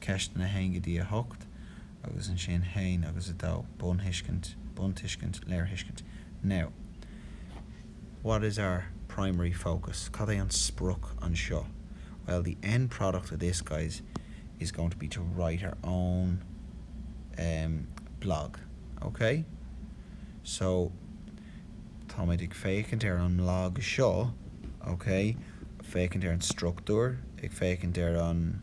Ceisteanna 1 go dtí 8, agus ansin 1 agus 2, buntuiscint, léirthuiscint, Now, what is our primary focus? Cad é an sprioc anseo? Well, the end product of this, guys, is going to be to write our own blog, ok? So, táimid ag féachaint ar an blag seo, ok, féachaint ar an struchtúr, ag féachaint ar an.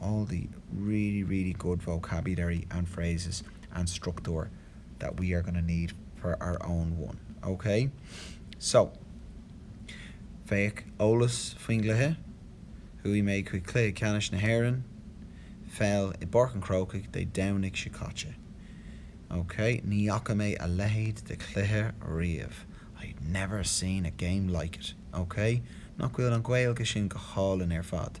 all the really, really good vocabulary and phrases and structúr that we are going to need for our own one, ok? So, féach eolas faoin gcluiche, Chuaigh mé chuig cluiche ceannais na hÉireann, peil, i bPáirc an Chrócaigh Dé Domhnaigh seo caite. Ok, ní fhaca mé a leithéid de chluiche riamh, I'd never seen a game like it. Ok? Nach bhfuil an Ghaeilge sin go hálainn ar fad?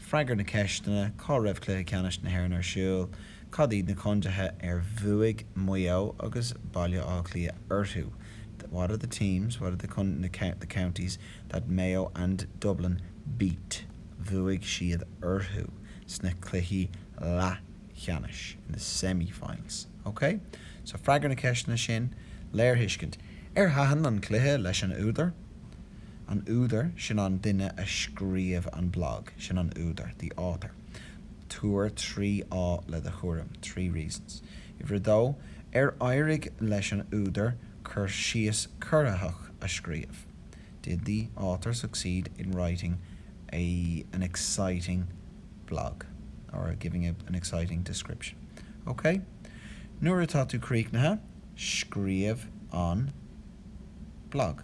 Freagair na ceisteanna, Cá raibh Cluiche Ceannais na hÉireann ar siúl? Cad iad na contaetha ar bhuaigh Maigh Eo agus Baile Átha Cliath orthu? What are the teams, what are the counties, that Mayo and Dublin beat? bhuaigh siad orthu sna cluichí leathcheannais? in the semi-finals? OK? So, freagair na ceisteanna sin. Léirthuiscint, Ar thaitin an cluiche leis an údar? an údar, sin an duine a scríobh an blag, sin an údar, the author. Tabhair trí fháth le do thuairim, three reasons. Uimhir 2, Ar éirigh leis an údar cur síos corraitheach a scríobh? Did the author succeed in writing an exciting blog or giving an exciting description? OK. Nuair atá tú críochnaithe, scríobh an blag.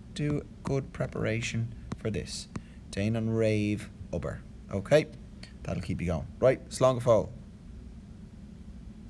Do good preparation for this, déan an réamhobair, OK? That'll keep you going, right? Slán go fóill!